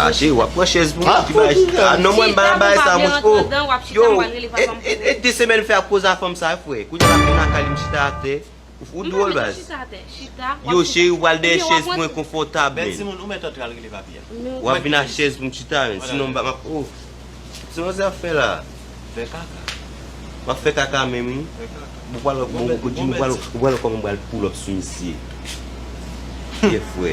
Ache wap pran chèz pou mwen A non mwen mba yon bay sa mwen chpo Yo e de semen mfe ap koz a fanm sa fwe Kou djala mwen lakay li m chita ate Ou dwol baz Yo cheri ou pral dèyè chèz pou mwen konfo tab men Wap vin a chèz pou m chita men Sinon mba map o Kisa wazè ap fè la? Fè kaka. Wap fè kaka menm wi. Fè kaka. Bon pral bon bon Jimmy ou pral ou pral kòman pral pull up sou misye. Kè fwè.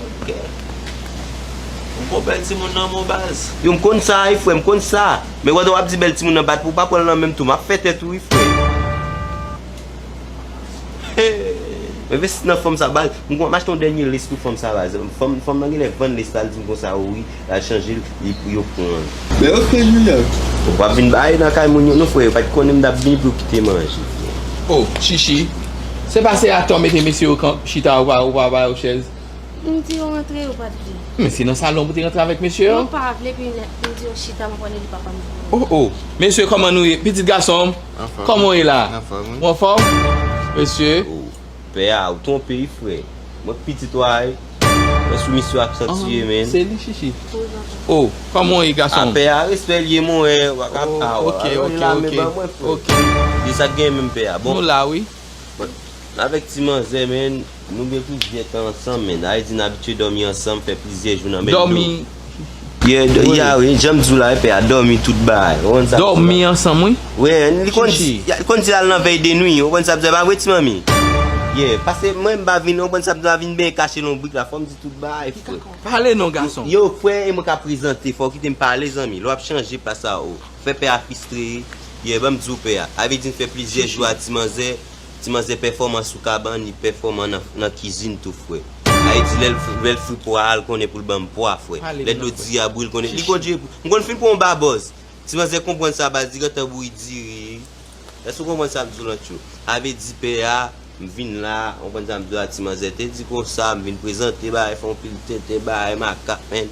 Ok. Bon bon bèl ti moun nan bon baz. Yo m konn sa wi fwè m konn sa. Men wè wap di bèl ti moun nan bat pou ou pa pranl nan menm tou map fè tèt ou wi fwè. Men vesti nan fanm sa baz. M konn map achte yon dènye lace pou fanm sa baz. Fanm nan genlè vann lace la li di m konsa o wi. Al chanjel li pou yo pranl. Men ok Julian. Ou pap vin bay nan kay moun yo non frè yo pat konnen m tap vini pou yo kite manje frè. Oh chichi Se pa se atò mete mesye yo kan chita ou pa ba yo chèz. M di yo rantre yo pat vle. Men se nan salon pou te rantre avèk mesye yo. Yo pa vle epi m di yo chita m konn e li papa m vini. Oh oh Mesye kòman nou ye pitit gasonm Anfòm kòman ou ye la Anfòm wi Ou anfòm Mesye Pè a ou twonpe wi frè. Mwen k pitit ou a wi. Mwen sou misyon ak san tiye menn. Se li chichi. Oh koman w ye gason m. A pè a respè li ye mwen wè wa ka pa a wa. Alon yon lame ban mwen frè. Di sa k gen menm pè a. Nou la wi. M avèk ti manzè menn. Nou gen plizyè tan ansanm menn. Ayiti n abitye dòmi ansanm fè plizyè jou nan menm do. Yeah yeah wi janm diw la epe a domi tout bagay ou konn sa. Domi ansanm wi. Wi li konn di li konn di lal nan vèy de nwi ou konn sa bzè pa vre ti manmi. Yeah pase mwen mpa vin ou konn sa bzè pa vin benyen kache lonbrik la fòm di tout bagay frè. Pale non gason. Yo frè e mwen ka prezante fòw kitem pale zanmi lè wap chanje plas a ou fè pè a fistre wi yeah banm diw pè a avè di nfè plizyè jou a ti manzè. Ti manzè pèfòman sou kabann li pèfòman nan kizin tou frè Ayiti lèl lèl fri pwa a l konnen pou l banm pwa frè lè dlo diri a bouyi l konnen li kontinye pou m konn fin pran yon babòz Ti manzè konprann sa baz li gentan bouyi diri Èske w konprann sa m di w lan tchoul Sa vle di pè a m vin la a konprann sa m di w la ti manzè te di konsa m vin prezante bagay fè yon pil tenten bagay makak men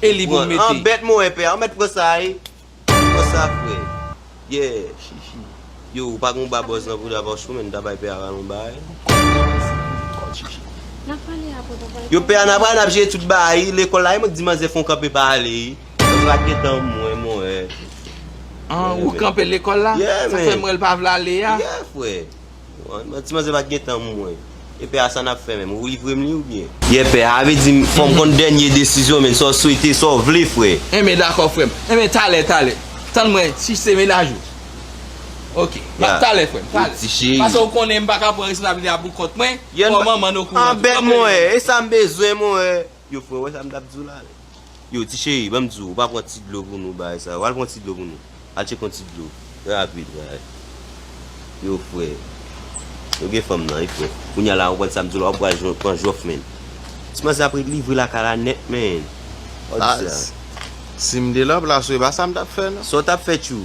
E li bon mete. An bèt mwen pè a ou mèt pran sa e Pran sa frè Yeah shishi Yo ou pa gon ba bòz nan pou da pa chou men ta bay pè a ralon bay Kòd shishi Yo pè a nan pral nap jere tout ba yi lekòl la e mwen k di manzè fon kanpe pa ale yi Manzè pa gen tan mwen mwen e An ou kanpe lekòl la Yeah men Sa fè mwen l pa vle ale a Yeah frè. Ti manzè pat gen tan mwen. Epè a sa nap fè menm ou livrem li ou byen. Yè pè a vle dim fòm konn dènye desizyon men sa w swete sa w vle frè. Enben dakò frèm enben talè talè tann mwen si se mennaj ou ok map talè frèm talè pase ou konnen m paka pran responsabilite a pou kont mwen fò manman n okouran tou anbèt mwen e sam bezwen mwen. Yo fre wè sa m tap di w la wi. Yo ti cheri banm di w ou pa pran ti dlo pou nou bagay sa yo al pran ti dlo pou nou al tcheke yon ti dlo rapid bagay yo fre yo gen fanm nan wi fre kounya la konprann sa m di w la wap pral jwenn pran jòf menn ti manzè ap ret livre lakay la nèt menn wap di sa. Sim te nan plas ou epa sam tap fè nan. Saw tap fè tjou.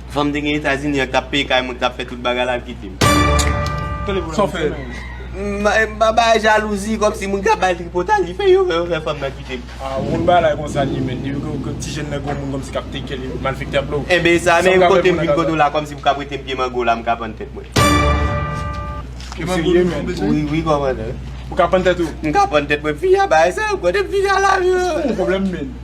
Fanm te gen etazini an tap peye kay mwen tap fè tout bagay lal kitem. Saw fè M pa bay jalouzi komsi moun kap bay tripotay li fè yo yo fè fanm nan kitem. Ah bon bagay konsa li ye menn depi ke ti jèn nan gen yon moun komsi kap take care li malfektè ap love. Enben e sa menm kotem vin kote w la komsi pou kap rete m pye mango la m ka pann tèt mwen. Pye mango li ou bezwen? Wi wi komandè. Ou ka pann tèt ou? M ka pann tèt mwen fi a bay sa yo kotem fin a la. Ou gen pwoblèm menn.